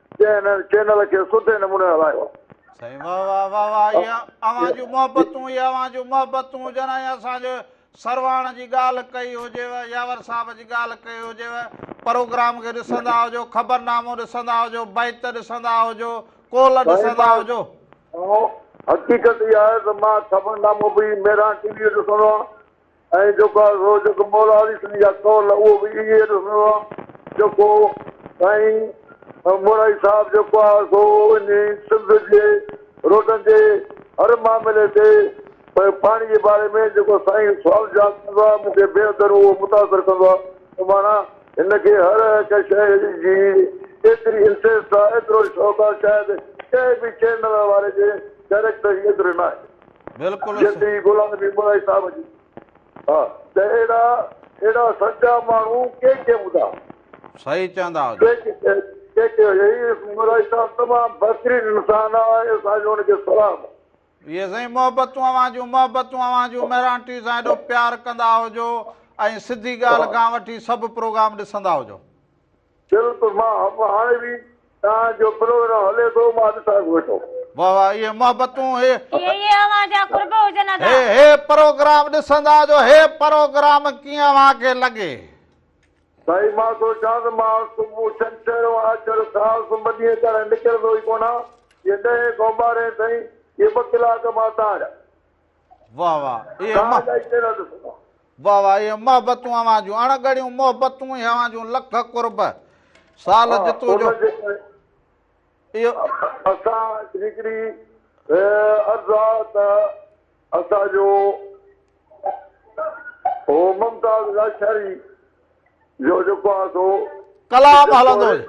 جنهن هن چينل کي سٺي نموني هلايو آهي. سائين واه واه واه واه اهي اوهان جون محبتون اهي اوهان جون محبتون جنا اهي اسان جو سرواڻ جي ڳالهه ڪئي هجيو ياور صاحب جي ڳالهه ڪئي هجيو پروگرام کي ڏسندا هجو خبرنامو ڏسندا هجو بيت ڏسندا هجو ڪول ڏسندا هجو حقيقت اها آهي ته مان خبرنامو به ميران ٽي وي ڏسندو آهيان ۽ جيڪو آهي سو جيڪو مولا علي سنڌي جا قول اهو به ائين ئي ڏسندو آهيان جيڪو سائين مورائي صاحب جيڪو آهي سو ان سنڌ جي روڊن جي هر معاملي تي پاڻي جي باري ۾ جيڪو سائين سوال جواب ڪندو آهي مون کي بي حدن اهو متاثر ڪندو آهي ته ماڻا هن کي هر هڪ شيء جي ايتري انٽريسٽ آهي ايترو شوق آهي شايد ڪنهن به چينل واري جي ڊائريڪٽر جي ايتري ناهي. جيئن ته غلام نبي ملائي صاحب جي ها ته اهڙا اهڙا سچا ماڻهو ڪي ڪي هوندا. صحيح چوندا آهيو جي. ڪي ڪي هيئي ملائي صاحب تمام بهترين انسان آ ۽ اسان جو ان کي سلام آ. اهي سائين محبتون اوهان جون محبتون اوهان جون مهراڻ ٽي سان ايڏو پيار ڪندا هجو ۽ سڌي ڳالهه کان وٺي سڀ پروگرام ڏسندا هجو. دل به مان هم هاڻي به توهان جو پروگرام هلي ٿو مان ڏسان ٿو ويٺو. واھ واھ اهي محبتون اهي. اهي اهي اوهان جا قرب هجن ادا. هي هي پروگرام ڏسندا جو هي پروگرام ڪيئن اوهان کي لڳي. سائين مان سوچان ته مان صبح ڇنڇر ۽ آچر سال سون ٻه ڏينهن ڪرڻ نڪرندو ئي ڪونه آهيان جي ڏهين کان ٻارهين تائين اهي ٻه ڪلاڪ مان تان جا واھ واھ اي اما واھ واھ اي محبتون اوهان جون اڻ ڳڙيون محبتون اي اوهان جون لک قرب سال جتو جو اسان هڪڙي عرض آ ته اسان جو او ممتاز لاشاري جو جيڪو آهي سو ڪلام هلندو هي.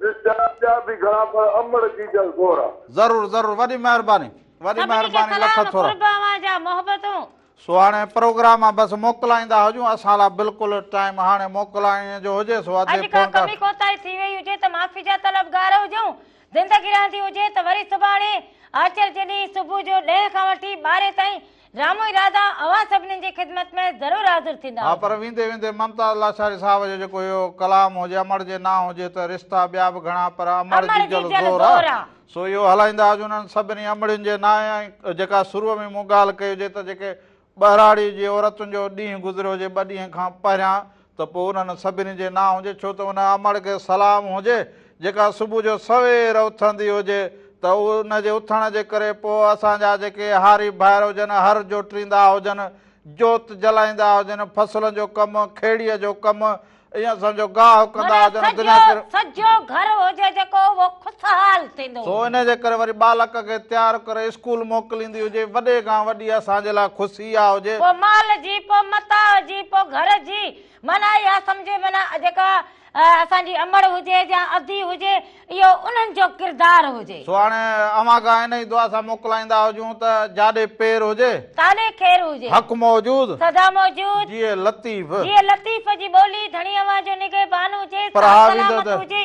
ڏسجا ٻيا به گهڻا پر امڙ جي جا زورا. ضرور ضرور وڏي مهرباني وڏي مهرباني لک ٿورا. سڀني کي سلام قرب اوهان جا محبتون. سهاڻي پروگرام بس موڪلائيندا هجون اسان لا بلڪل ٽائيم هاڻي موڪلائڻ جو هجي سو اڄ ڪا ڪمي ڪوتاهي ٿي وئي هجي ته معافي جا طلب گار هجون زندگي رهندي هجي ته وري سڀاڻي آچر جڏهن صبح جو ڏهين کان وٺي ٻارهين تائين رامو اراده اوهان سڀنين جي خدمت ۾ ضرور حاضر ٿيندا ها پر ويندي ويندي ممتاز لاچاري صاحب جو جيڪو اهو ڪلام هو جي امڙ جي نانء هجي ته رشتا ٻيا به گهڻا پر امڙ جي جل زور آ سو اهو هلائيندا اڄ انهن سڀني امڙين جي نانء ۽ جيڪا سروع ۾ مون ڳالهه ڪئي هجي ته جيڪي ٻهراڙي جي عورتن جو ڏينهن گذريو هجي ٻه ڏينهن کان پهريان ته پوء انهن سڀني جي نه هجي، ڇو ته ان امڙ کي سلام هجي، جيڪا صبح جو سوير اٿندي هجي، ته ان جي اٿڻ جي ڪري پوء اسان جا جيڪي هاري ڀائر هجن، هر جوٽريندا هجن، جوت جلائيندا هجن، فصلن جو ڪم، کيڙيء جو ڪم، ائين سمجهو گاهه ڪندا هجن، معنيٰ دنيا ڪر. سجهو گهر هجي جيڪو اهو خوشحال ٿيندو سو هجي. ان جي ڪري وري ٻالڪ کي تيار ڪري اسڪول موڪليندي هجي، وڏي کان وڏي اسان جي لاء خوشي. ٿي يا هجي. پوء مال جي، پوء متاع جي، پوء گهر جي. معنيٰ اها سمجهي معنيٰ جيڪا اسان جي امڙ هجي يا ادي هجي، اهو انهن جو ڪردار هجي. سو هاڻي اوهان کان انهيء دعا سان موڪلائيندا هجون ته جاڏي پير هجي. تاڏي خير هجي. حق موجود. سدا موجود. جيئي لطيف. جيئي لطيف جي ٻولي. ڌڻي اوهان جو نگهبان هجي. ساهه سلامت هجي.